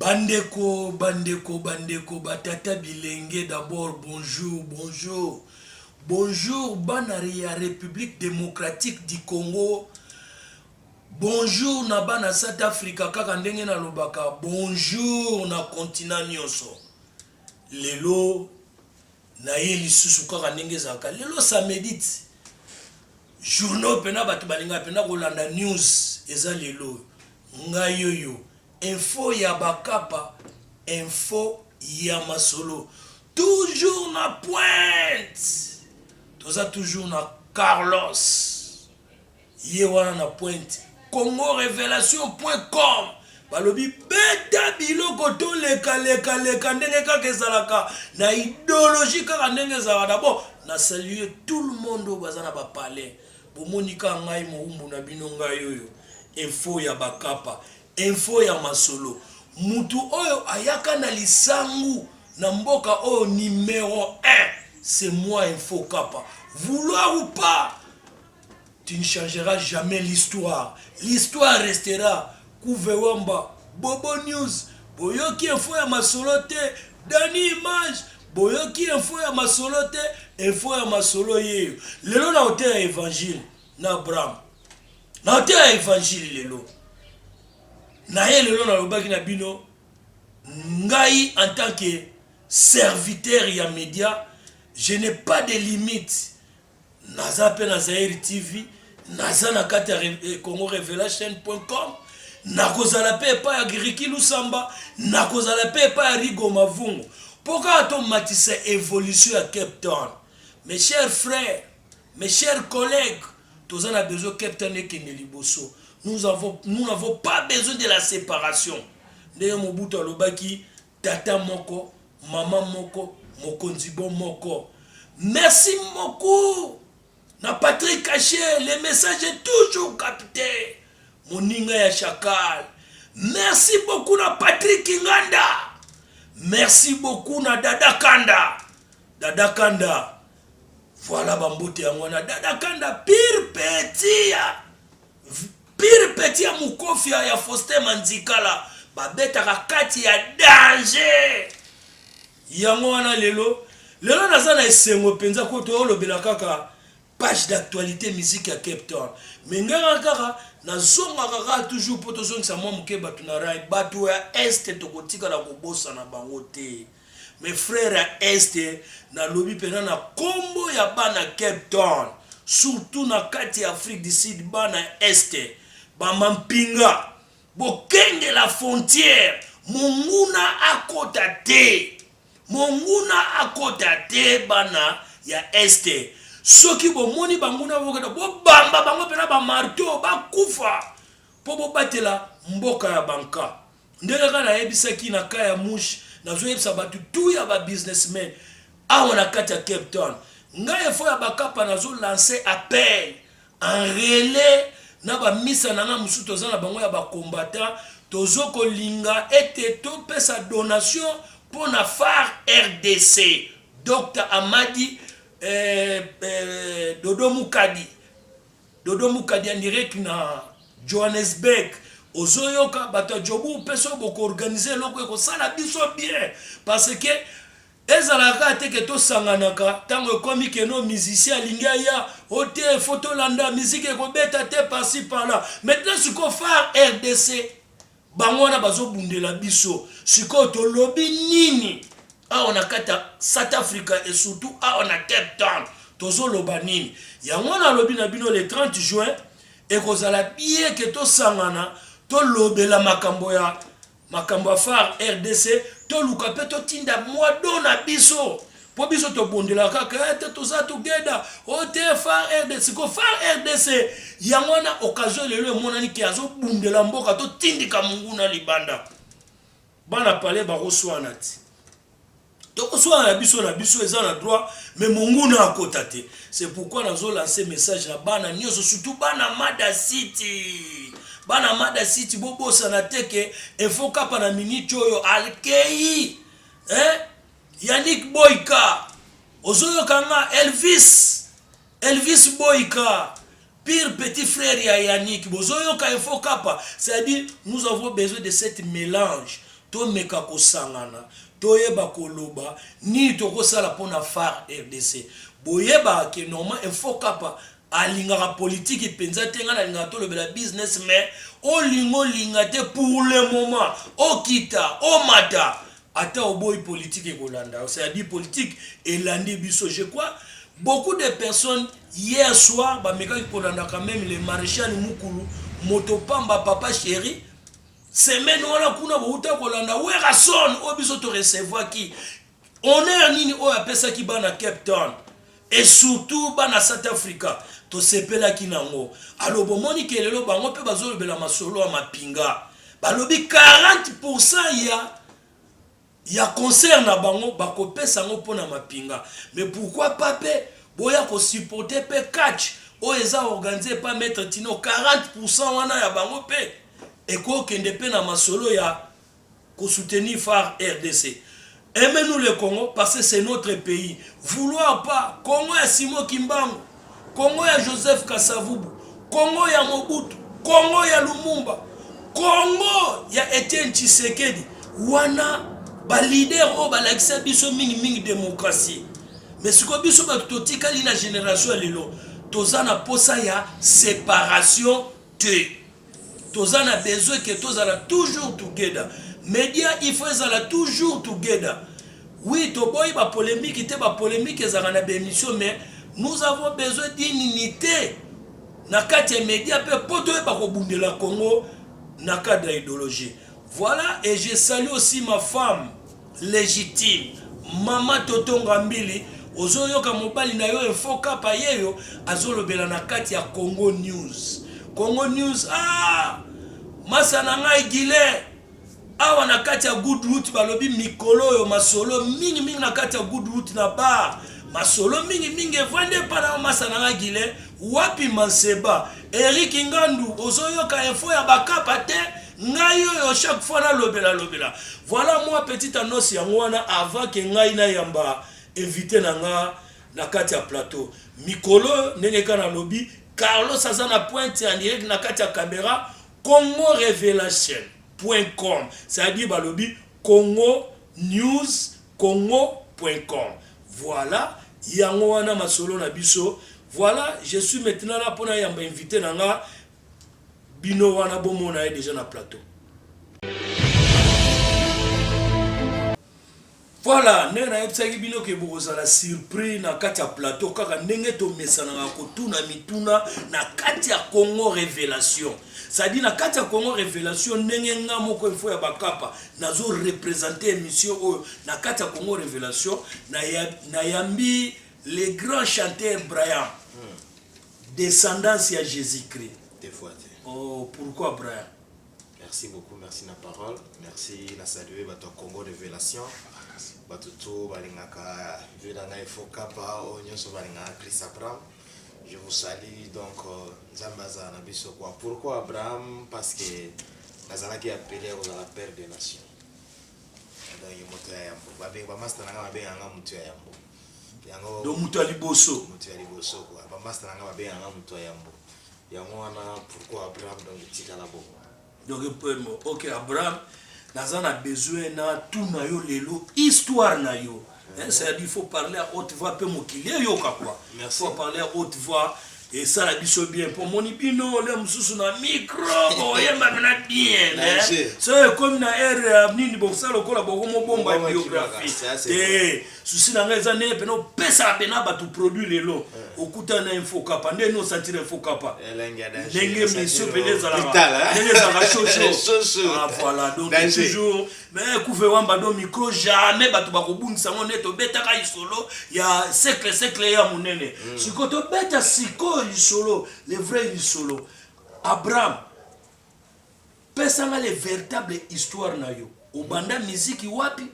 Bandeko bandeko bandeko ba tata bilenge d'abord bonjour bonjour bonjour bana ya republique democratique du Congo bonjour na bana South Africa kaka ndenge na lobaka bonjour na continent nionso lelo na ye lisusu kaka ndenge ezalaka lelo ça medite journaux pena bato balingaka pena kolanda news eza lelo oyo ngai yoyo info ya bakapa info ya masolo toujours na pointe toza toujours na carlos Ye wana na pointe Congo revelation point com balobi beta biloko to leka leka leka ndenge kaka ezalaka na ideologie kaka ndenge ezalaka d'abord na saluer tout le monde oyo baza na ba palais bomoni kaka ngai mowumbu na bino ngai oyo info ya bakapa info ya masolo mutu oyo ayaka na lisangu na mboka oyo numero 1 c'est moi info kapa vouloir ou pas Tu ne changeras jamais l'histoire, l'histoire restera Couve Wamba, Bobo News, boyoki info ya masolo te, Danny Image, boyoki info ya masolo te, info ya masolo yeyo. Lelo na hotel ya Evangile na Abraham, na hotel ya Evangile lelo na ye, lelo nalobaki na bino ngai en tant que serviteur ya media, je n'ai pas de limite Naza pe na Zaire TV, naza na kati ya Congo Revelation.com, nakozala pe epai ya Ricky Lusamba, nakozala pe epai ya Rigo Mavungu. Po kaka to matisa evolution ya Cape Town. Mes chers frères, mes chers collègues, toza na besoin Cape Town ekende liboso. Nous avons nous n'avons pas besoin de la séparation. Ndenge Mobutu alobaki Tata moko, maman moko, mokonzi bo moko. Merci beaucoup na Patrick Cache, le message est toujours capte. Moninga ya Chacal. Merci beaucoup na Patrick Nganda. Merci beaucoup na Dada Kanda. Dada Kanda. Voilà bambote yango wana. Dada Kanda pire petit. Pire petit ya mukofia ya Faustin Manzikala babetaka kati ya danger yango wana lelo lelo naza na esengo mpenza ko toolobela kaka page d'actualité musique ya Cape Town mais ngaka kaka nazongaka kaka toujours mpo tozongisa mwa moke bato na rai bato ya este tokotikala kobosana bango te Mes frères ya Est nalobi pena na kombo ya bana Cape Town surtout na kati ya Afrique du Sud bana ya Est ba mampinga bokengela frontière monguna akota te monguna akota te bana ya Est soki bomoni banguna bokota bobamba bango pena ba marteau bakufa mpo bobatela mboka ya banka Ndenge kaka nayebisaki na cas ya Mouche, nazoyebisa bato tout ya ba businessmen awa na kati ya Cape Town. Ngai efo ya Bakapa nazo lancer appel en relais na ba misa na ngai mosusu toza na bango ya ba combattants, tozo kolinga ete topesa donation mpo na phare rdc. Docta Amadi eh, eh, Dodo Mukadi. Dodo mukadi en direct na Johannesburg ozoyoka bato ya jobourg mpe soki bokoorganize eloko ekosala biso bien parce que ezalaka kaka te ke tosanganaka ntango ekomi keno musicien alingi aya o te fo tolanda miziki ekobeta te parci parla maintenant sikoyo far rdc bango wana bazobundela biso sikoyo tolobi nini awa na kati ya south africa et surtout awa na cape town tozoloba nini yango wana alobi na bino le 30 juin ekozala bien ke tosangana tolobela makambo ya makambo ya far rdc toluka mpe totinda mwa do na biso Po biso tobondelaka kaka eh, te toza together o oh, te far rdc ko far rdc yango wana occasion lelo emonani ke azobundela mboka totindika monguna libanda bana pale bakoswana ti tokoswana na biso na biso eza na droit mais monguna akota te c'est pourquoi nazolanse message na bana nyonso surtout bana mada city bana mada city bobosana te ke efo kapa na miniti oyo alkeyi eh? Yannick boyka ozoyoka nga elvis elvis boyka pire petit frère ya yannick bozoyoka info kapa c'est à dire nous avons besoin de cette mélange tomeka kosangana toyeba koloba nini tokosala mpona far rdc boyebaka ke normal info kapa alingaka politiki mpenza te ngai nalingaka tolobela business mais olinga olinga te pour le moment okita omata Ata oboyi politique ekolanda yo, c'est à dire politique elandi biso. Je crois beaucoup de personnes hier soir bamekaki kolanda quand même le maréchal Mukulu moto pamba papa chéri semaine wana kuna bouta kolanda Werrason oyo biso to recevaki honneur nini oyo apesaki bana Cape Town Et surtout bana South Africa tosepelaki nango alors bomoni ke lelo bango pe bazolobela masolo ya mapinga balobi 40 pourcent ya ya concert na bango bakopesa yango mpo na mapinga mais pourquoi pas pe boya ko supporter pe catch oyo eza organise pa maitre tino 40 pourcent wana ya bango pe ekokende pe na masolo ya ko soutenir far rdc aime nous le Congo parce que c'est notre pays vouloir pas Congo ya Simon Kimbangu Congo ya Joseph Kasavubu Congo ya Mobutu Congo ya Lumumba Congo ya Etienne Tshisekedi wana ba leader oyo balakisa biso mingi mingi demokratie mais sikoyo biso bato totikali na generation ya lelo toza na posa ya separation te toza na besoin que tozala toujours together media il faut ezala toujours together oui toboyi ba polemique te ba polemique ezalaka na ba émission mais nous avons besoin d'une unité na kati ya media mpe mpo toyeba kobundela congo na cadre ya idéologie voilà et je salue aussi ma femme legitime maman toto ngambili ozoyoka mobali na yo info kapa yeyo azolobela na kati ya congo news congo news ah! masa na ngai gilen awa na kati ya good root balobi mikolo oyo masolo mingi mingi na kati ya good root na bar masolo mingi mingi evandi epa na masa na ngai gilen wapi manseba erik ngandu ozoyoka info ya bakapa te ngai oyo chaque fois nalobela lobela voilà moi petit annonce yango wana avant ke ngai nayamba invité na nga na kati ya plateau mikolo ndenge kaka nalobi carlos aza na pointe ya direct na kati ya camera congo revelation point com c'est-à-dire balobi congo news congo point com voilà yango wana masolo na biso voilà je suis maintenant là mpona yamba invité na nga Bino wana bo mona ye dejà na plateau. Voilà, ndenge nayebisaki bino ke bokozala surpris na kati ya plateau kaka ndenge tomesanaka kotuna mituna na kati ya Congo Revelation. Sadi na kati ya Congo Revelation ndenge nga moko info ya bakapa nazo representer emission oyo na kati ya Congo Revelation nayambi le grand chanteur Brian. Hmm. Descendance y'a Jesus Christ. Des fois te. Oh pourquoi Brian? Merci beaucoup, merci na parole. Merci na saluer bato ya Congo Revelation. Bato to balingaka vie na ngai fo kapa oyo oh, nyonso balingaka Chris Abraham. Je vous salue donc euh, Nzambe azala na biso kwa. Pourquoi Abraham? Parce que nazalaki appelé ya kozala père des nations. Donc ye moto ya yambo. Babengi bamasta na ngai babengaka ngai moto ya yambo. donc moto ya liboso moto ya liboso quoi ba master na nga ba benga nga moto ya yambo yango wana pourquoi Abraham donc etikala bongo donc euh, ok Abraham naza na besoin na tout na yo lelo histoire na yo Hein, c'est-à-dire il faut parler à haute voix, peu mokili, yoka quoi. Il faut parler à haute voix. Esala biso bien po moni bino le mususu na micro boyemba pena bien so ekomi na ere ya nini bokosala lokola boko mobomba biographie te susi na ngai eza ndenge pena opesaka pena bato produit lelo okuta na infokapa nde ni osantira infokapa ndenge misio pena ezalaka ndenge ezalaka shosho voilà donc toujours mais kuve wamba do micro jamais bato bakobungisa yango nde tobetaka lisolo ya sekle sekle ya monene mm. sikoyo tobeta sikoyo lisolo le vrai lisolo abraham pesanga le véritable histoire na yo obanda miziki wapi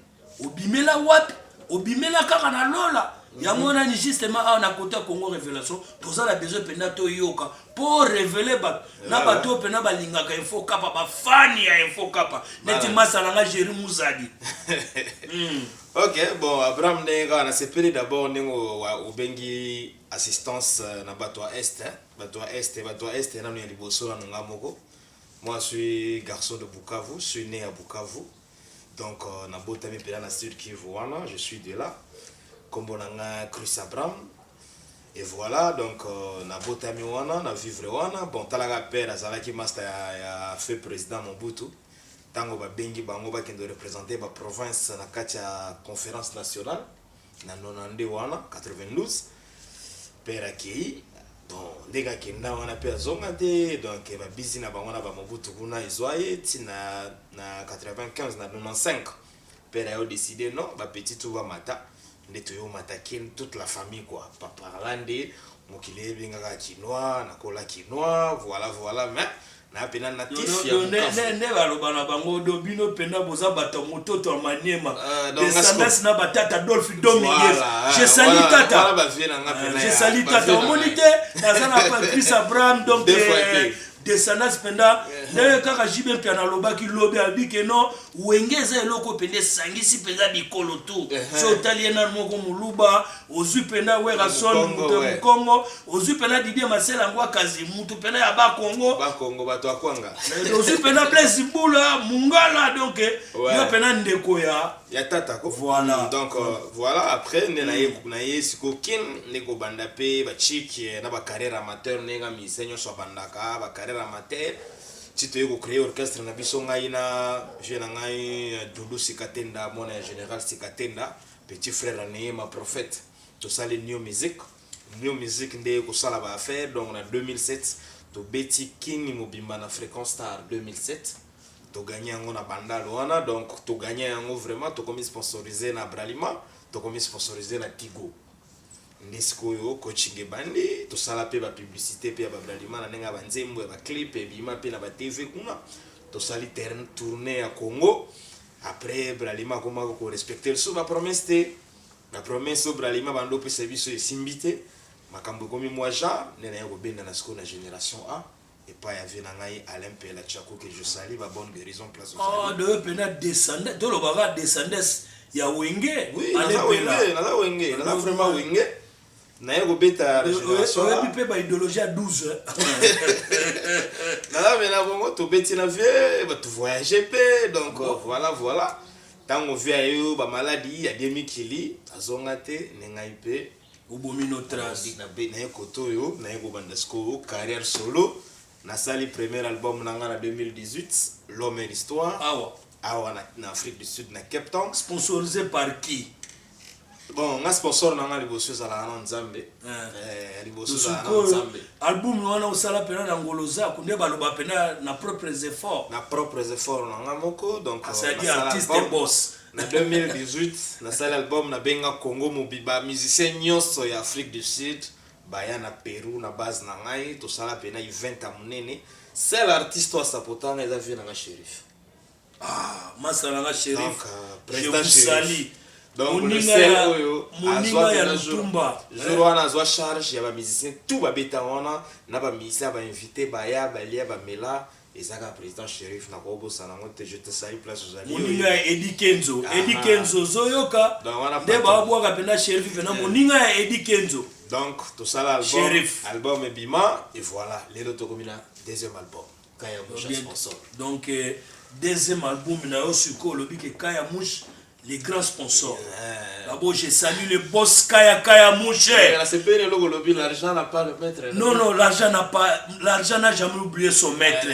obimela wapi obimela kaka na lola yango wana ni justement awa na kota congo révélation toza na besoin mpenza toyoka po revele bato na bato oyo mpena balingaka info kapa bafani ya info kapa neti masala nga jeri muzadi hmm. ok bon abraham ndenge kaka nasepeli d'abord ndenge obengi assistance euh, na bato ya est bato ya est bato ya est nano ya liboso nano nga moko moi suis garçon de bukavu suis né ya bukavu Donc na botami pena na Sud Kivu wana, je suis de là. Kombo na nga Chris Abram. Et voilà, donc euh, na botami wana, na vivre wana. Bon, talaka père azalaki master ya, ya feu président Mobutu. Tango babengi bango bakende représenter ba province na kati ya conférence nationale. Na 92 wana 92 père akeyi bon ndenge akenda wana pe azonga te donc ba bizi na bango na ba mobutu kuna ezwa ye ti na, na 95 na 95 père ayo decide non ba petit tout bamata nde toyo mata kin toute la famille quoi par là nde mokili ebengaka kinois nakola kinois voilà voilà mais Na pena na Yo, tif no- ya no- ne- mukafu. ne- ne baloba na bango do bino mpenda boza bato ya mototo ya maniema Ah, donc, descendance na batata adolphe dominguez Voilà, ah, je sali voilà, voilà tata ba vieux na nga Ah, pena je ya- sali ba tata vieux na omoni nga. te naza na pa- chris abraham donc Deux fois eh, te. descendance mpenda ndenge kaka jibe mpe analobaki lobi alobi ke no wenge eza eloko mpenza esangisi mpenza bikolo tu Ehe. so otali ye nani moko moluba ozwi pena Werrason moto ya Mukongo, ozwi pena Didier Masela Ngwakazi moto pena ya ba Kongo, ba Kongo bato ya Kwanga, eh, ozwi pena Blaise Bula Mungala, donc eh, ouais. yo pena ndeko ya ya tata ko voilà mm, donc euh, voilà après nde na ye mm. na ye siko kin nde kobanda pe ba chic eh, na ba carrière amateur ndenge nga musicien nyonso abandaka ba carrière amateur ti toye kocreye orchestre na biso ngai na vieux na ngai doudou sikatenda mwana ya général sikatenda Petit frère ya Neema prophète tosali new music new music nde eko sala ba affaires donc na 2007 tobeti kin mobimba na frequence star 2007 to gagne yango na bandal wana donc to gagne yango vraiment tokomi sponsoriser na Bralima tokomi sponsoriser na Tigo nde sikoyo coaching ebandi tosala mpe ba publicité mpe ya ba Bralima na ndenge ya ba nzembo ya ba clip ebima mpe na ba TV kuna tosali terrain tourner ya Congo Après Bralima akomaka ko respecter lisusu ba promesses te. Ba promesses oyo Bralima abanda opesa biso esimbi te. Makambo ekomi mua genre. Nde naye kobendana sikoyo na generation A epayi ya vieux na ngai Alain Mpela Tshaku que je salue. Ba bonne guerison place ozali. Ah donc yo pena descendant toloba kaka descendance ya Wenge? Oui, Alain naza Mpela. Wenge, naza Wenge, naza vraiment Wenge. naye kobeta regeneration oyebi mpe baideologie ya 12 nazamela bongo tobeti na vie batu voyage mpe donc voilà voilà ntango vie ayeyo bamaladi ya die mikili azonga te nde ngai mpe obomi no trace naye koto oyo naye kobanda sikoyo carrière solo nasali premier album na ngai na 2018 l'homme et l'histoire awa awa na, na Afrique du Sud na Cape Town. Sponsorisé par qui? Bon, nga sponsor na nga liboso ezalaka na Nzambe. Eh, eh liboso ezalaka na Nzambe. Album wana osala pena na Ngolo Zaku nde baloba pena na propres efforts. Na propres efforts na nga moko donc ah, c'est euh, artiste et boss. na 2018 nasali album na benga Congo Mobiba musicien nyonso ya Afrique du Sud baya na Peru na base na ngai tosala pena event ya monene. Seul artiste oyo asapotanga eza vie na nga Sheriff. Ah, masta na nga shérif, Donc, euh, je Prestat vous Shérif. salue. donc le Moninga sel ya- oyo moninga azwa ya kuna jour- Lutumba. jour wana azwa charge ya bamusicien tout babeta wana na bamusicien bainvité baya balia bamela ezaka président shérif nakobosana yango te je te sali place ozali moninga ya edi kenzo Ah. edi kenzo ozoyoka Donc, wana nde patron. babwaka mpena shérif mpena moninga ya edi kenzo donc tosala album, Shérif. album ebima et voilà lelo tokomi na deuxième album donc euh, deuxième album na yo sikoyo olobi ke kaya mouche les grands sponsors d'abord je salue le boss kaya kaya mouche non non l'argent n'a pas l'argent n'a jamais oublié son maître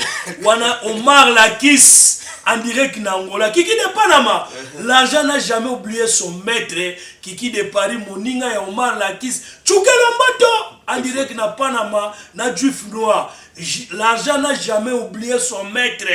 wana omar lakis en direct na angola kiki de panama l'argent n'a jamais oublié son maître kiki de paris moninga ya omar lakis tshukela mbato en direct na panama na juif noir l'argent n'a jamais oublié son maître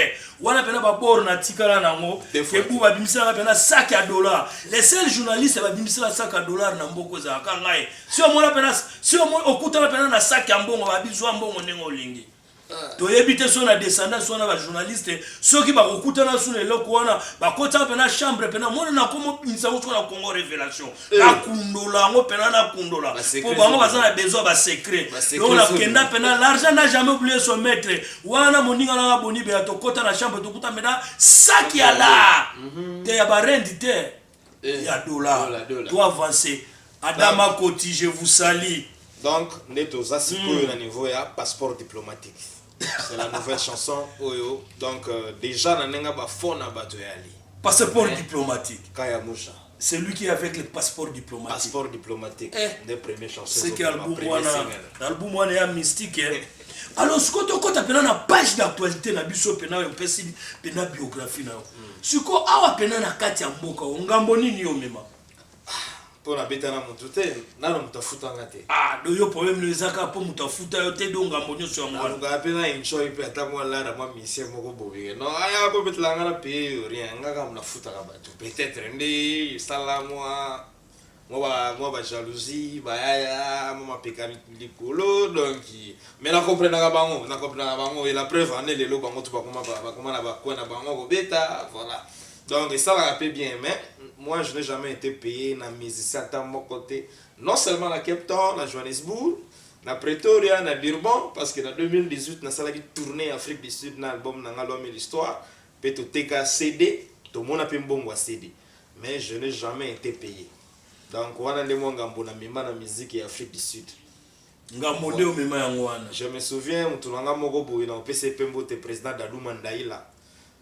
wana mpena babor natikala nango ebu babimiselaka mpena sac ya dollar le seul journaliste babimisela sac ya dollar na mboka ezalaka ngai si omona mpena si okutana mpena na sac ya mbongo babizwa mbongo ndenge olingi ah. toyebi te so na descendance wana bajournaliste soki bakokutana so na eloko wana bakotaka mpena chambre mpena mwana nakomobimisa ngo soki na congo révélation Eh. nakundola yango mpena nakundola mpo bango baza na besoin basecret donc nakenda mpena l'argent n'a jamais oublié son maître wana moninga nanga boni beya tokɔta na chambre tokuta mpena saki ya la mhm. te ya barende te eh. ya dollar to avance adama koti je vous sali donc nde toza sikoyo hmm. na niveau ya passeport diplomatique c'est la nouvelle chanson oyo donc euh, déjà na nenga ba fond na bato ya ali passeport eh. diplomatique kaya musha c'est lui qui est avec le passeport diplomatique passeport diplomatique eh. nde premier chanson c'est que album wana album wana ya mystique eh. alors sikoyo tokɔta mpena na page d'actualité na biso mpena oyo mpesi mpena biographie na yo hmm. sikoyo awa mpena na kati ya mboka o ngambo nini omema po nabeta na mutu te nano mutu afuta nga te ah do yo problème no eza kaka po mutu afuta yo te do ngambo nyonso yango wana nalukaka pe na enjoy pe ata mwa lada mwa misie moko boye no aya kobetela nga na paye yo rien nga kaka nafutaka bato peut-être nde esala mwa mwa ba jalousie bayaya mwa mapeka likolo donc mais na comprenaka bango na comprenaka bango et la preuve en est lelo bango tu bakoma bakoma na bacoin na bango kobeta voilà Donc esalaka pe bien mais moi je n'ai jamais ete paye na musicien ata moko te non seulement na Cape Town, na Johannesburg, na Pretoria, na Durban parce que na 2018 nasalaki tournee Afrique du Sud na album na nga Loi mille histoires pe toteka CD tomona pe mbongo ya CD mais je n'ai jamais ete paye donc wana nde mua ngambo na mema na musique ya Afrique du Sud. Ngambo nde omema yango wana. Je me souviens mutu na nga moko boye na opesa ye pe mbote President Dadou Mandaila.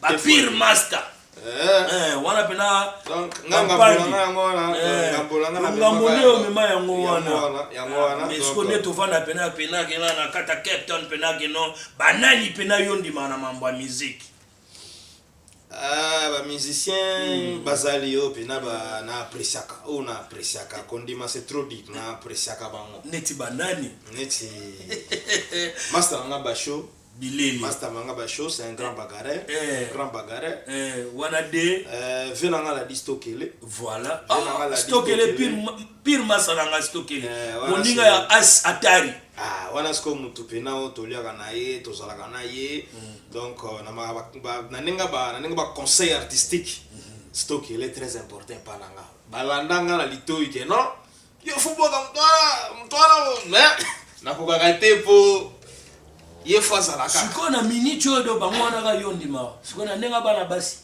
ba pire master eh. Eh, wana pena ngambo nde omema yango wana esiko nde tovanda pena pena kena na kata cape town pena keno banani pena yo ndima na mambo ya miziki Ah, ba musicien mm. bazali oyo mpena na apresiaka oyo oh, na apresiaka kondima c'est trop dit na apresiaka bango neti banani neti master nanga basho bilele. Masta manga ba show c'est un grand bagarreur, eh, un grand bagarreur. Eh, wana de euh vieux nanga la dit stokele. Voilà. Oh, ah, stokele pire pire masta nanga stokele. Eh, Moninga ya as atari. Ah, wana siko mutu pena o toliaka na ye, tozalaka na ye. Mm. Donc euh, na ma ba na ninga ba na ninga ba conseil artistique. Mm -hmm. Stokele très important pa nanga. Balanda nga na litoyi ke non. Yo fuboka moto wana nakokaka te mpo ye fo azalaka sikoyo na miniti oyo do bango wana ka yo ndimaka sikoyo na ndenge bana basi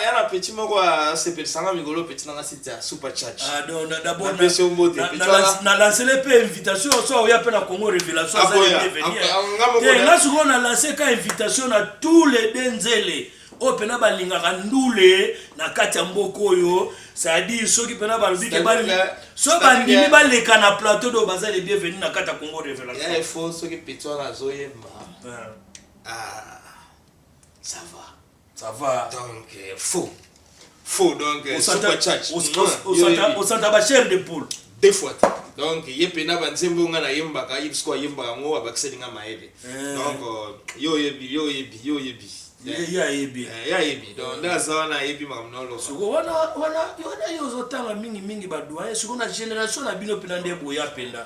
ya na peti moko asepelisanga mikolo peti nanga site ya super churchnalancele mpe invitation so oya mpe na congo révélation nga sikoyo na lance ka invitation na tous les deux nzele oyo pena balingaka ndule na kati ya mboka oyo cestadire soki pena balobi ke so bandimi baleka na plateau do baza le bienvenu na kati ya congo révélation soki peti wana azoyemba ah, ça va ça va donc euh, faux faux donc euh, super charge osanta ba chair de poule deux fois donc ye mpe na banzembo oyo ngai nayembaka ye bisiko ayembaka yango abakiseli ngai mayele eh. donc euh, yo oyebi yo oyebi yo oyebi eh. ye ayebi eh, ye ayebi donc nde aza wana ayebi makambo na oloba siko wana wana wana yo ozotanga mingimingi badoyen siko na génération na bino mpena nde boya mpenda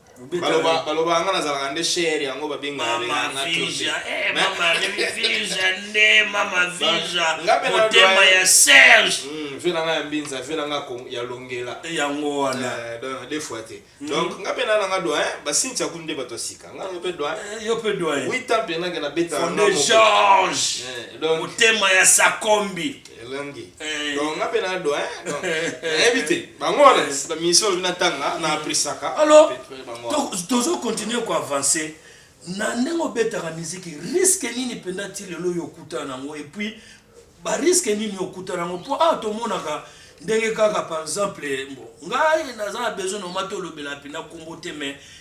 baloba baloba nga nazalaka nde shere yango babenganga vija eh, mama vija nde mama vija motema ya serge hmm, vie na nga ya mbinza vie na nga ya longela eh, yango wana eh, de fois te hmm. donc nga mpe nana nga doyen basinti aku nde bato ya sika nga yo mpe doyen yo mpe doyen huit ans mpe nake na beta fonde george motema ya sakombi elangi eh. donc nga mpe nado nayebi te bango wana bamisio olobi natanga na aprisaka alors tozo continue koavance na ndenge obetaka miziki riske nini mpenza ti lelo oyo okutana nango epuis bariske nini okutana yango mpo awa tomonaka ndenge kaka par exemple ngai naza na besoin nomati olobela mpena nkombo te mais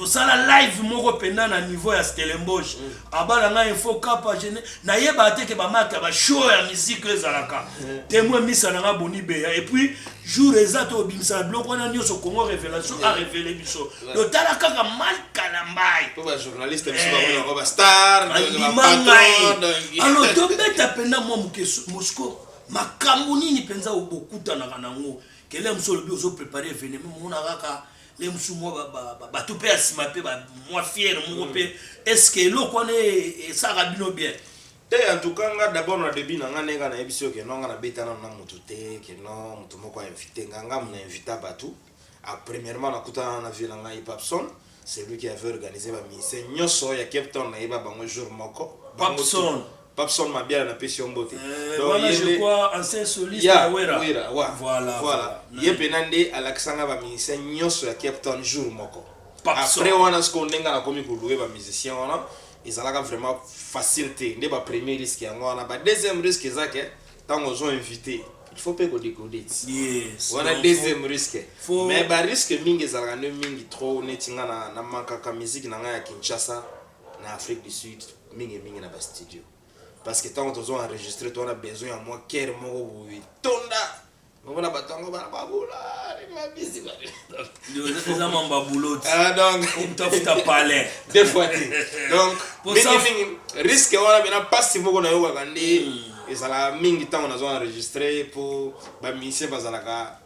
tosala live moko penda na niveau ya stellenbosch mm. abala nga info kapa je nayeba te ke bamata ba show ya musique ezalaka mm. temoin misa na nga boni beya et puis jour eza to obimisa biloko wana nyonso congo révélation mm. a révélé biso totala kaka mal kalambai andima ngai alors tobeta penda mwa moke mosco makambo nini mpenza obokutanaka nango kele mosu olobi ozo prépare événement mona kaka ndenge mosusu mwa ba- ba- ba- bato mpe ya nsima mpe ba- mwa fiere moko mpe eske eloko wana e- esalaka bino bien te en tout cas nga d'abord na début na nga ndenge nga nayebisi yo keno nga nabeta nano na moto te keno moto moko ainvite nga nga mona invita bato a premièrement nakutana na vie na ngai papson c'est lui qui avait organisé ba musicien nyonso ya cape town nayeba bango jour moko Bango Papson. tout. Papson Mabiala na pesi yo mbote. Euh, Donc, wana ye je nde- crois ancien soliste Ya, ya Wera. Wera, wa. Voilà, Voilà. voilà. ye mpena nde alakisa ngai bamusicien nyonso ya cape town jour moko Papson. après wana sikoyo nde ngai nakomi kolue bamusicien wana ezalaka vraiment facile te nde bapremier risque yango wana badeuxième risque eza ke ntango ozo invité il faut mpe kodekode ti Yes. wana Donc, deuxième risque faut- mais barisque mingi ezalaka nde mingi trop neti ngai na- na mankaka musique na ngai ya kinshasa na Afrique du Sud mingi mingi na ba studio parce que tango tozo enregistrer to wana besoin ya mwa care moko boye tonda omona bato yango bana babula mabisi eza mamba buloti ah, donc tafuta palais deux fois te donc mingimingi risque wana bena mpasi moko nayokaka nde hmm. ezalaka mingi ntango nazo enregistre mpo bamusicien bazalaka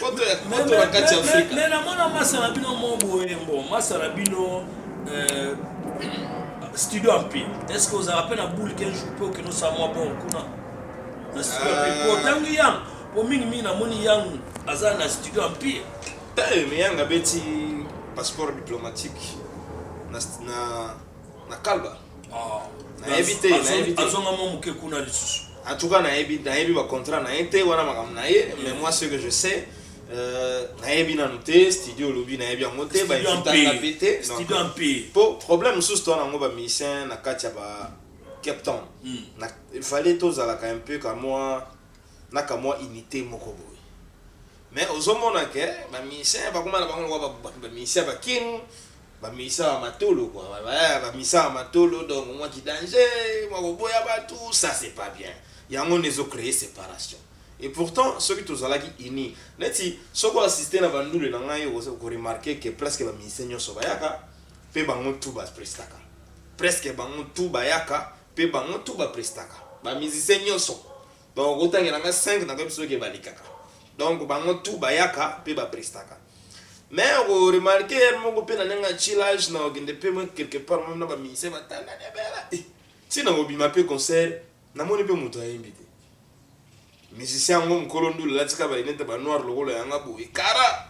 Poto ya poto na kati ya Afrika. Mais na mona masa na bino mo boye mbo masa na bino euh, studio ampi. Est-ce que vous avez appelé la boule qu'un jour peut que nous sommes bon kuna? Na studio ampi. Euh. Ko tangi yang po mingi mingi na moni yang aza na studio ampi. Tayo mais yang abeti passeport diplomatique na na na kalba. Ah, nayebi te nayebi te azonga mwa moke kuna lisusu en tout cas nayebi nayebi ba contrat na ye te wana makambo na ye mais moi ce que je sais euh, nayebi nanu te studio olobi nayebi yango te bainvitanga mpe te mpo euh, problème mosusu towana yango bamusicien na kati ya ba cape town hmm. il fallait tozalaka un peu kamwa na kamwa unité moko boye mais ozomona ke bamusicien bakoma na bango lokwa bamusicien baking Ba misa ya matolo quoi eh, ba misa ya matolo donc mwa ki danger, mwa koboya batu, ça c'est pas bien. Yango nde ezo creer separation. Et pourtant soki tozalaki unis, neti soki o assister na ba ndule na ngai okozo ko remarquer que presque ba musiciens nionso bayaka pe bango tout ba prestaka. Presque bango tout bayaka pe bango tout ba prestaka. Ba musiciens nionso. Donc okotangela ngai 5 nakoyebi soki balikaka. Donc bango tout bayaka pe ba prestaka. Mais oko remarquer heure moko pe na ndenge ya chillage na okende pe mwe quelque part meme na ba musiciens ba tanda de bela. Eh, si na obima pe concert, na moni pe moto ayembi te. Musicien yango mukolo ndule latika ba lunette ba noir lokola yanga boye. Kara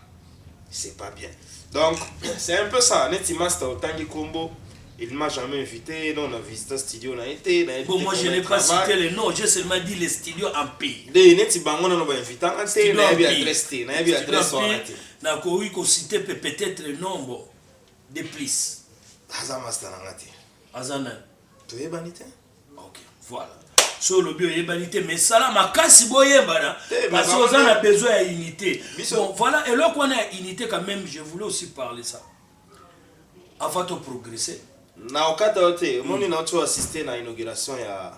c'est pas bien. Donc c'est un peu ça, neti master otangi kombo Il m'a jamais invité, non, on a visité studio, on a été, on a été. Bon, moi, je n'ai pas cité le nom, j'ai seulement dit les studios en pays. Des nets, bango, on a invité, on a été, on a bien adresse, on a bien adresse, on a été. Na koui ko cité peut-être le nombre de plus. Aza masta na ngati. Aza na. Tu es banité? OK, voilà. so olobi oyebani te mais sala makasi boyebana parce que oza na besoin ya unité bon voilà eloko wana ya unité quand même je voulais aussi parler ça Avant to progresser. Na okata yo te, omoni hmm. na oto assister na inauguration ya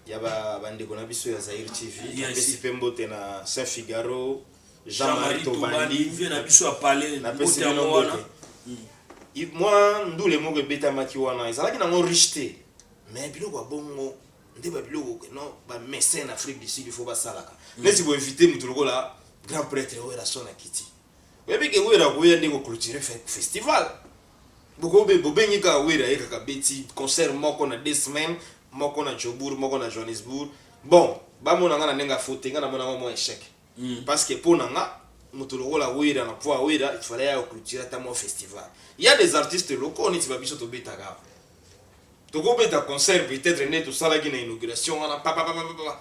ya ba bandeko na biso ya Zaire TV, yes. napesi pe mbote na Saint Figaro, Jean-Marie Tobandi, vie na biso ya palais, napesi pe mbote. Hmm. Moi ndule moko ebetamaki wana, ezalaki nango riche te. Mais biloko ya bongo nde ba biloko non ba mécène Afrique du Sud il faut basalaka. Hmm. Nesi bo inviter mutu lokola grand prêtre oyo la son akiti. Oyebi ke Werra akoya nde ko cloturer festival. Boko be bobengi kaka Werra aye kaka abeti concert moko na deux semaines, moko na Jobourg, moko na Johannesburg. Bon, ba mona nga na ndenge ya faux te, nga na mona yango mua echec. Parce que po na nga, mutu lokola Werra na poids ya Werra, il fallait aya ko cloturer ata mua festival. Il ya des artistes locaux neti ba biso tobetaka awa. Toko beta concert peut-etre neti tosalaki na inauguration wana, papapapapapa.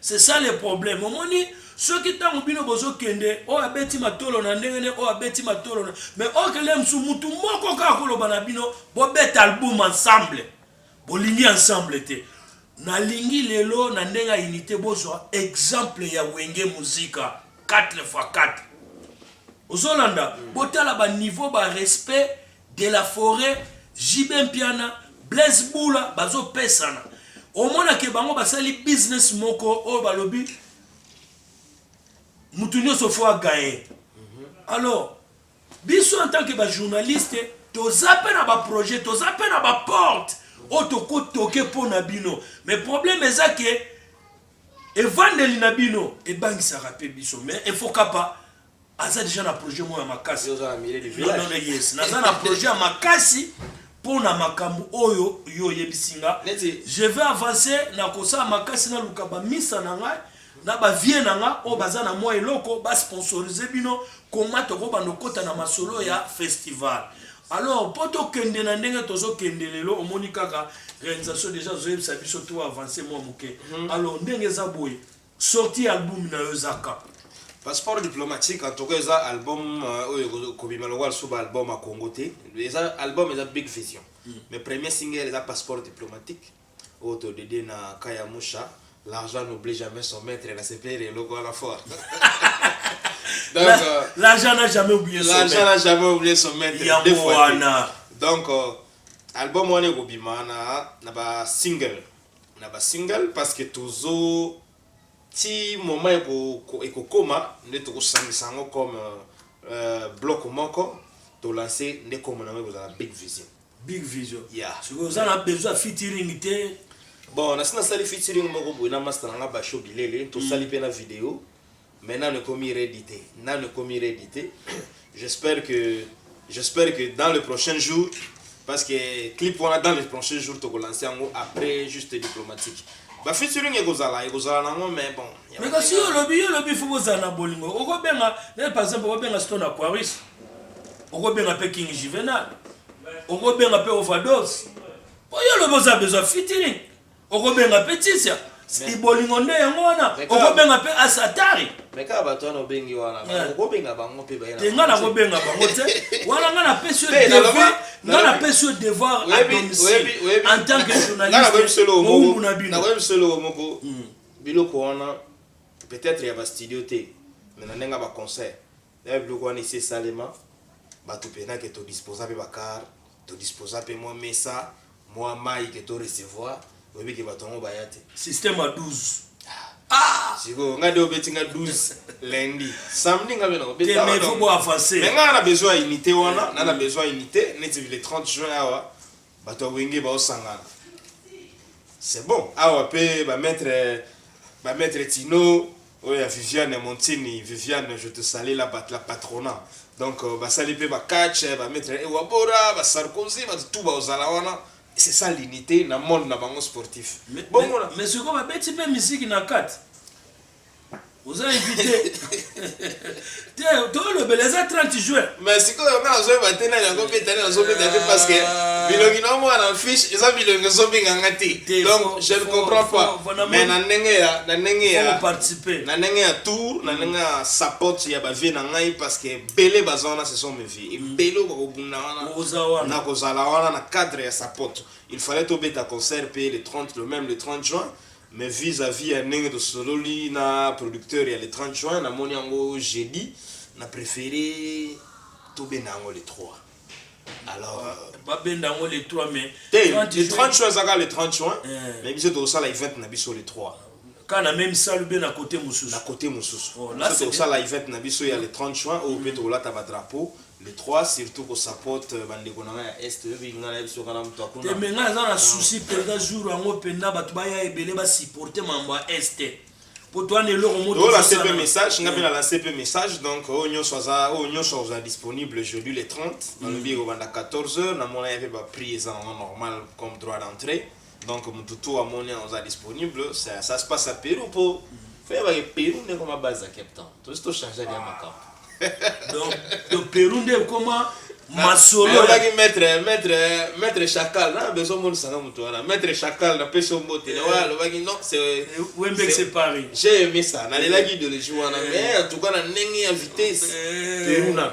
C'est ça le problème omoni soki tango bino bozo kende oyo abeti matolo na ndenge ne oyo abeti matolo na mais oyo kende musu mutu moko kaka koloba na bino bobeta album ensemble bolingi ensemble te nalingi lelo na ndenge ya unité bozwa exemple ya wenge muzika 4 fois 4 ozolanda botala ba niveau ba respect De la foret, JB Mpiana, Blaise Bula bazo pesana. Omona ke bango basali business moko oyo balobi mutu nyoso fo a gagne. Alors biso en tant que ba journaliste toza pe na ba projet, toza pe na ba porte oyo toko toke mpo na bino. Mais problème eza ke evandeli na bino ebangisaka pe biso. Mais efokapa aza deja na projet moko ya makasi naza na projet ya makasi mpo na makambo oyo yo oyebisi nga je vais avancer na kosala makasi naluka bamisa na ngai na bavie na nga oyo baza na mwa eloko basponsorise bino koma tokobanda okota na masolo ya festival alors mpo tokende na ndenge tozokende lelo omoni kaka réalisation déjà azoyebisa biso to avance mwa moke hmm. alors ndenge eza boye Sortie ya album nayo eza quand? Passeport diplomatique en tout cas eza album oyo ekobima lokola lisusu ba album ya Congo te eza album eza big vision mm. mais premier single eza passeport diplomatique oyo to dedie na Kaya Musha l'argent n'oublie jamais son maître na sepeli eloko wana fort donc euh, l'argent n'a jamais oublié son l'argent n'a jamais oublié son maître deux fois donc euh, album wana ekobima na na ba single na ba single parce que tozo ti moment eko ekokoma nde toko sangisa yango comme euh, bloc moko to lancer nde kombo na yango ekozala big vision big vision yeah. sikoyo oza na besoin ya featuring te bon nasi nasali featuring moko boye na masta na nga basho bilele tosali mpe na video mais nanu ekomi ready te nanu ekomi ready te j'espère que j'espère que dans le prochain jour parce que clip wana dans le prochain jour toko lancer yango après juste diplomatique ba featuring ekozala ekozala nango mais bon mais kasi yo olobi yo olobi fo kozala na bolingo okobenga eh, par exemple okobenga stone aquaris okobenga mpe king juvenal okobenga mpe overdose oyo olobi oza besoin featuring okobenga mpe tisia ibolingo nde yango wana okobenga mpe asatari me kaka bato wana obengi wana okobenga bango mpe baye te ngai nakobenga bango te wana ngai napesi yo devoir ngai napesi yo devoir à domicile en tant que journaliste mowumbu na bino nakoyebi solo moko hmm. biloko wana peut-être ya bastudio te me na ndenge ya baconcert Yaya biloko wana esi esalema batu pena ke to disposa pe ba car to disposa pe mua mesa mua mayi ke to recevoir oyebi ke batu yango baya te. Système ya 12 ah! Sikoyo nga de obeti nga 12 lundi samedi nga pe na obeta wana te mais faut bo avancer mais nga na besoin ya unite wana na na besoin ya unite neti le 30 juin awa Bato ya wenge bao sangana c'est bon awa pe ba maitre ba maitre Tino oyo ya Viviane Montini Viviane je te salue la bat la patrona donc euh, basali pe ba catch ba maitre Ewabora ba Sarkozy ba tout ba ozala wana c'est ça l'unité na monde na bango sportif mais, mais, mais sikoyo babeti pe miziki na kati oza invité te tolobela eza 30 juin mais sikoyo nga nazoyeba te nani yango mpe tani nazobeta te parce que ah. bilongi na omona na fiche eza bilongi ezobenga nga te donc je ne comprends pas mais na ndenge ya na ndenge ya na ndenge ya tour na mm. ndenge ya support ya bavie na ngai parce que ebele baza wana ce sont mes vies ebele okoka kobunda wana na kozala wana na cadre ya support il fallait tobeta concert mpe le 30 le même le 30 juin Mais vis à vis ya ndenge tosololi na producteur ya le 30 juin namoni yango jeudi na prefere tobenda yango le 3 alors euh, babenda yango le 3 mais te le 30 juin ezaka le 30 juin eh. mais biso tokosala event na biso le 3 kaka na meme salle mpe na kote mosusu na kote mosusu oh, biso tokosala event na biso ya le 30 juin oyo mpe mm. tokolata badrapeau le trois surtout ko support euh, bandeko na ngai ya est oyebi ngai nayebi soka na moto akuna te me ngai naza na souci mpenza jour yango mpenza bato baya ebele basupporte mambo ya est te mpo towana eloko motolanse mpe message ngai mpe mm. nalanse mpe message donc oyo nyonso aza oyo nyonso akozala disponible aujourd'hui le 30 mm. nalobi ekobanda 14 heures namona ye mpe baprix eza nango normal comme droit d'entrée Donc mutu tout amoni oza disponible ça, ça se passe à Pérou po faut yeba ke Pérou nde koma base à Cape Town to sto changer ya makambo donc donc Pérou nde koma masolo yaki maître maître maître chacal na besoin mon sanga mutu wana maître chacal na peso mbote na wala lobaki non c'est eh, wembe c'est Paris j'ai aimé ça na lelaki idéologie wana eh. mais en tout cas na ndenge ya vitesse eh. Pérou na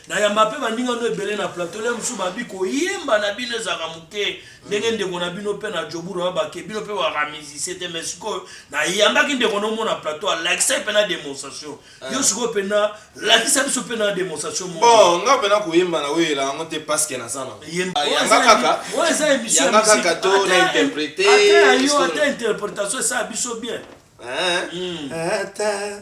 Nayamba pe baninga no ebele na plateau lelo mosusu babi koyemba na bino ezalaka moke ndenge ndeko na bino pe na joburu na bake bino pe baka musicien te mais sikoyo nayambaki ndeko na omo na plateau alakisaki pe na demonstration yo ah. sikoyo pena lakisa biso pe na demonstration moko bon nga pena koyemba na oyela yango te parce que naza na ah, yanga kaka oyo eza émission yanga kaka to na interpréter ata yo ata interprétation esala biso bien hein? hmm. ata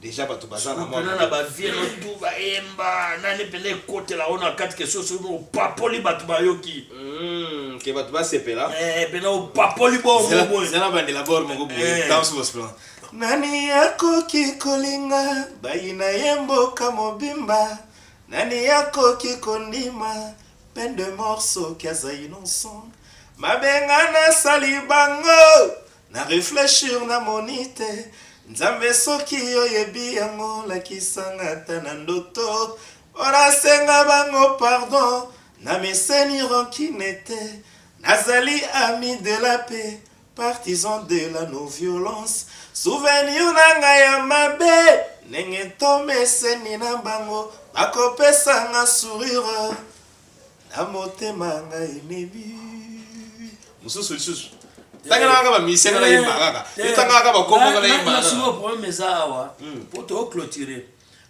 dejà bato baza na mwana na ba vie no tout ba emba nani pena ekotela ona kati ke soso no papoli bato bayoki mm, ke bato basepela eh pena opapoli bo mo bo zela bandela bor mo ko bo eh. dans vos plans nani akoki kolinga bayina ye mboka mobimba nani akoki kondima peine de mort soki aza innocent mabenga nasali bango Na reflechir na moni te. Nzambe soki yo yebi yango lakisa nga ata na ndoto po na senga bango pardon na meseni rancune te na zali ami de la paix partisan de la no violence souvenir na nga ya mabe ndenge to meseni na bango bako pesa nga sourire Na motema ngai nebi. Mususu lisusu. Tangana kaka ba musicien na yemba kaka. Yo tangana kaka ba kombo na yemba. Na sumo problème eza awa. Hmm. Po to clôturer.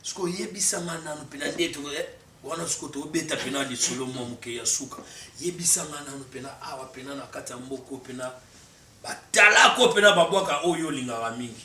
Siko yebisa nga nanu pena ndeto eh, wana siko to beta pena lisolo mwa muke ya suka. Yebisa nga nanu pena awa pena na kati ya mboko pena batalako pena babwaka oyo olingaka mingi.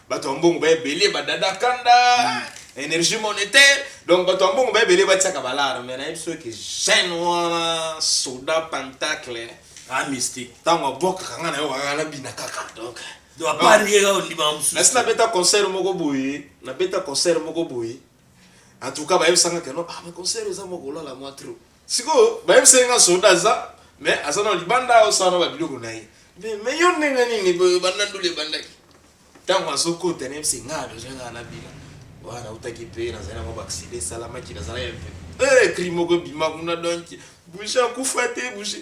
bato ya mbongo baebele badada kanda energie monétaire donc bato ya mbongo baebele batiaka balare mai nayebi soki jeune wana soda pentacle ah mystique ntango abwakaka ngai na yo kaka nabina kaka donc donc apart ye kaka ondima nasi mosusu nabeta concert moko boye nabeta concert moko boye en tout cas bayebisanga keno ah mais concert eza mwa kolala mwa trop Sikoyo bayebisa ye nga soda aza mais aza na libanda aosala na babiloko na ye mais mais yo ndenge nini boye banda ndule ebandaki ntango azokota nayebisa nga aloja nga na bila wana nautaki mpe nazali na mwa baksida esalamaki nazalaki mpe eh, cri moko ebima kuna donk bushe akufa te bushe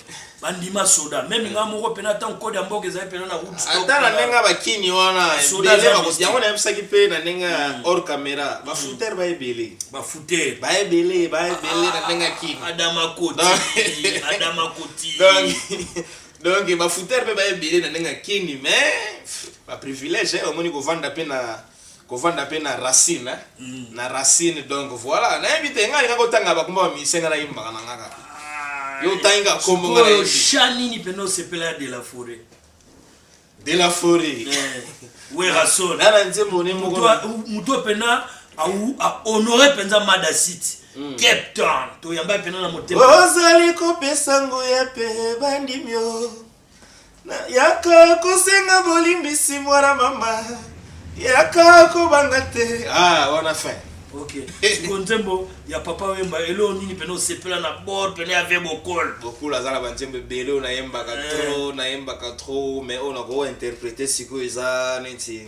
bandima soda meme nga moko mpena ntango kode ya mboka ezali mpena na ata na ndenge ya bakini wana yango nayebisaki mpe na ndenge ya mm. or camera mm. bafutere baebele bafutere baebele baebele na ndenge ya kini adamakoti adamakoti donc bafutere mpe baebele na ndenge ya kini mais baprivilège eh, omoni kovanda mpe na kovanda pe na racine hein mm. na racine donc voilà nayebi te ngai nako tanga ba komba ba musicien ngai nayebi mbaka na ngai kaka ah, yo otangi kaka kombo ngai nayebi sha nini pena osepela ya de la forêt de la forêt eh, werrason na na nzembo ne moko mutu pena au a honore penza mada city mm. cape town toyamba pena na motema ozali kopesa nguya pe bandimio Nayaka kosenga bolimbisi mwana mama yaka kobanga te ah wana fin ok siko nzembo ya papa wemba eloo nini pene osepela na bord pene ave bokol bokul aza na banzembo ebele oyo nayembaka eh. tro nayembaka tro mais oyo nakointerprete sikoyo eza neti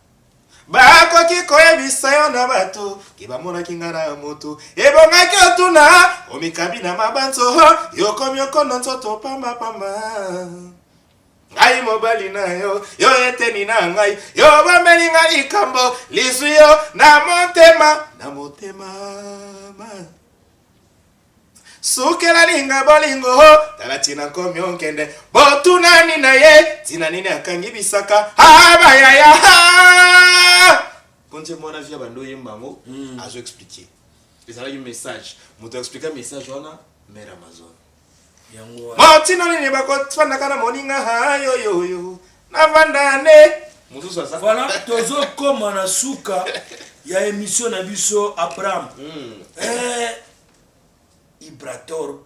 Bakoki koyebisa yo na bato ke bamonaki nga na moto, ebongaki otuna omikabi na mabanzo, yokomi okono nzoto pamba pamba. Ngai mobali na yo, yo eteni na ngai, yo bomeli nga likambo lizwi yo na motema, na motema ma. Sukela linga bolingo ho tala tina nkomi onkende botunani na ye tina nini akangi bisaka abayaya konje mwana via bando oyemba yango hmm. azo explike ezalaki message moto explika message wana mare amazon motina nini bakofandaka na moninga hayoyoyo Navanda ne. Mususu aza. Voilà, tozo koma na suka ya emission na biso Abraham. Mm. Eh, Ibrator,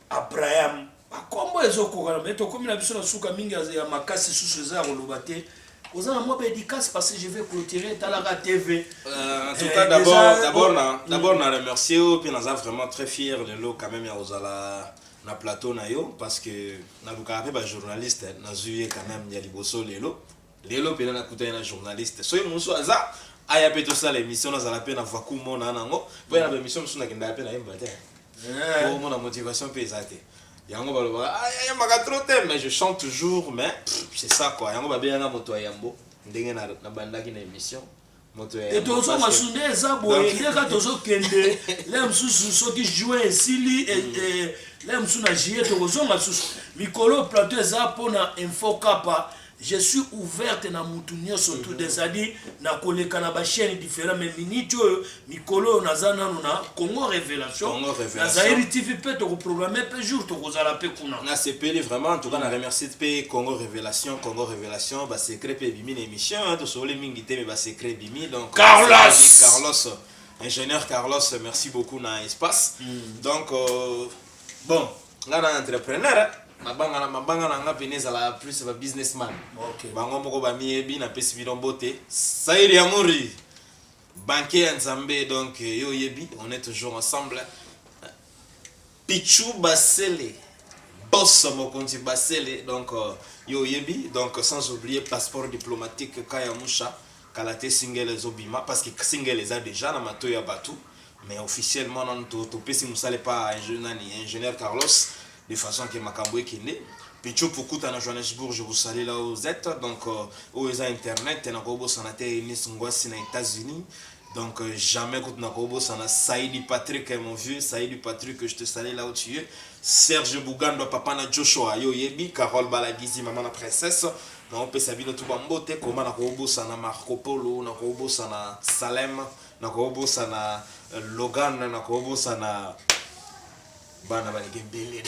Abraham, bakombo ezokokana me tokomi na biso na suka mingi ya makasi susu eza ya koloba te oza na mwa baédicace parce que je vais clôturer talaka tv euh, en tout eh, cas d'abord d'abord na remercier yo mpe naza vraiment très fier lelo quand même ya kozala na plateau na yo parce que nalukaka mpe ba journaliste nazwi ye quand même ya liboso lelo lelo mpena nakutani na journaliste soki mosusu aza aya mpe tosala émission nazala mpe na vaku mona nango mpo na baémission mosusu nakendaka mpe nayemba te po mona motivation mpe eza te yango balobaka ayembaka trop te mais je chante toujours mais c'est ça quoi yango babengaka moto ya yambo ndenge nabandaki na émission e tozonga su nde eza boye nde kaka tozokende le mosusu soki juin esili e, mm. e, le mosusu na juillet tokozonga susu mikolo plateau eza mpona info kapa je suis ouverte na mutu nyonso tout mm-hmm. c'est-à-dire na koleka na bachaîne différent mais minute oyo mikolo oyo naza nano na congo révélation na zairi tv mpe tokoprograme mpe jour tokozala mpe kuna nasepeli vraiment entoutcas na remercie mpe congo révélation congo révélation basecret mpe ebimi na émission hein, tosowoli mingi te me basecret ebimi donc carlos carlos ingénieur carlos merci beaucoup na espace mm. donc euh, bon nga na entrepreneur hein. mabanga na mabanga na nga pene ezala plus ba businessman okay. bango moko bamiyebi napesi bino mbote sairi ya mori Banquier ya Nzambe donc yo oyebi on est toujours ensemble. Pichou Basele boss mokonzi Basele donc yo oyebi donc sans oublier passeport diplomatique Kaya Musha kala te single ezobima parce que single eza déjà na mato ya bato mais officiellement nanu topesi mosala epa nani ingénieur Carlos de façon que makambo ekende Pecho Pukuta na Johannesburg je vous salue là où vous êtes donc euh, oyo eza internet na kobosana te Eunice Ngwasi na États-Unis donc euh, jamais kutu na kobosana Saïdi Patrick eh, mon vieux Saïdi Patrick je te salue là où tu es Serge Bugando papa na Joshua yo yebi Carole Balagizi maman na princesse na opesa bino tu bambote koma na kobosana Marco Polo na kobosana Salem na kobosana euh, Logan na kobosana bana baleki ebele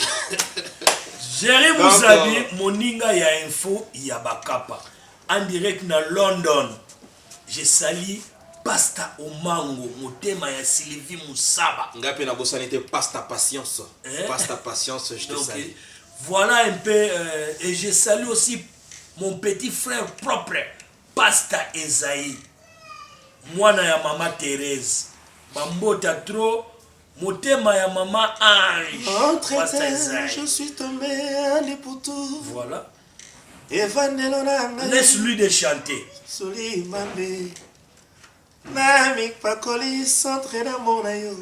jere muzabi euh, moninga ya info ya bakapa en direct na london je sali pasta omango motema ya sylvie musaba ngai mpe nabosani te pasta patience eh? pasta patience je te sali voilà un peu euh, et je salue aussi mon petit frère propre pasta ezai mwana ya mama therese bambota trop Motema ya maman Ange. Oh, très Pasta bien, Esaïe. je suis tombé à Liputu. Voilà. Evandelo na ngai. Laisse-lui de chanter. Soli mambe. Na mikpakoli centre d'amour na yo.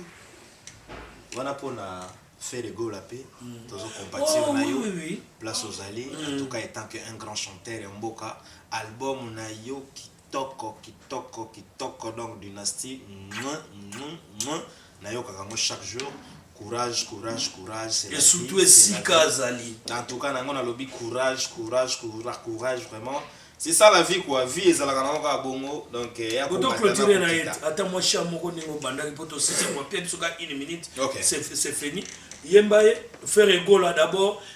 Wana mpo na fait de gola mpe tozo compatir Oh, na oui, yo oui, oui. place ozali en tout cas étant que un grand chanteur ya mboka album na yo Kitoko kitoko kitoko donc dynastie muah muah muah nayokaka yango chaque jour courage courage courage c'est la vie c'est la vie en tout cas na yango nalobi courage courage courage courage vraiment c'est ça la vie quoi vie ezalaka na yango kaka bongo donc ya clôturer na ye ata mwa chant moko ndenge obandaki po tosisi mwa mpe biso kaka une minute c'est fini yemba ye ferre egola d'abord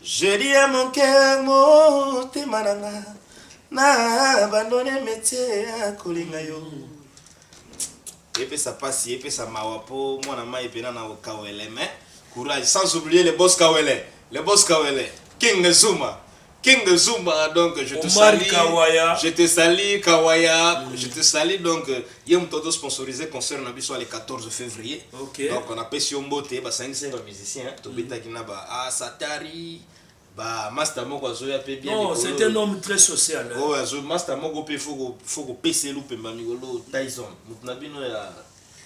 Je dis à mon cœur motema na nga na abandonne metier ya kolinga yo epesa pasi epesa mawa po mwana mai pena na kawele mais courage sans oublier le boss kawele le boss kawele king zuma King Zumba, donc je te Omar salue. Kawaya. Je te salue, Kawaya. Mm. Je te salue, donc Ye mutu azo sponsoriser concert na biso le 14 fevrier. Okay. Donc na pesi yo mbote ba sangisi ye ba musiciens to betaki na ba ah satari ba master moko azoya pe bien Non, c'est un homme très social. hein. Oh azo master moko pe faut ko faut ko pesa elu pemba mikolo Tyson mutu na bino ya ya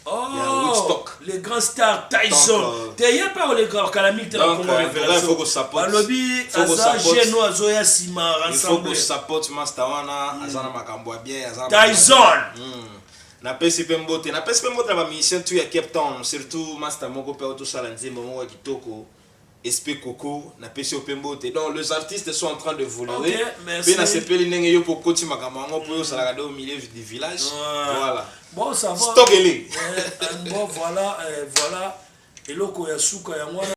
Oh, Woodstock. le grand star Tyson euh, te ye pe akoleka kala mingi te na Congo euh, Revelation balobi aza geno azoya nsima rassemble support master wana hmm. aza na makambo ya bien aza Tyson hmm. napesi mpe mbote napesi mpe mbote na bamusicien tu ya cape town surtout master moko mpe otosala nzembo moko ya kitoko Esp coucou na pesi yo pe mbote donc les artistes sont en train d'evoluer pe na sepeli ndenge yo pe okoti makambo yango po yo ozalaka de au milieu du village voilà bon ça va stock ele bon voilà voilà eloko ya suka yango wana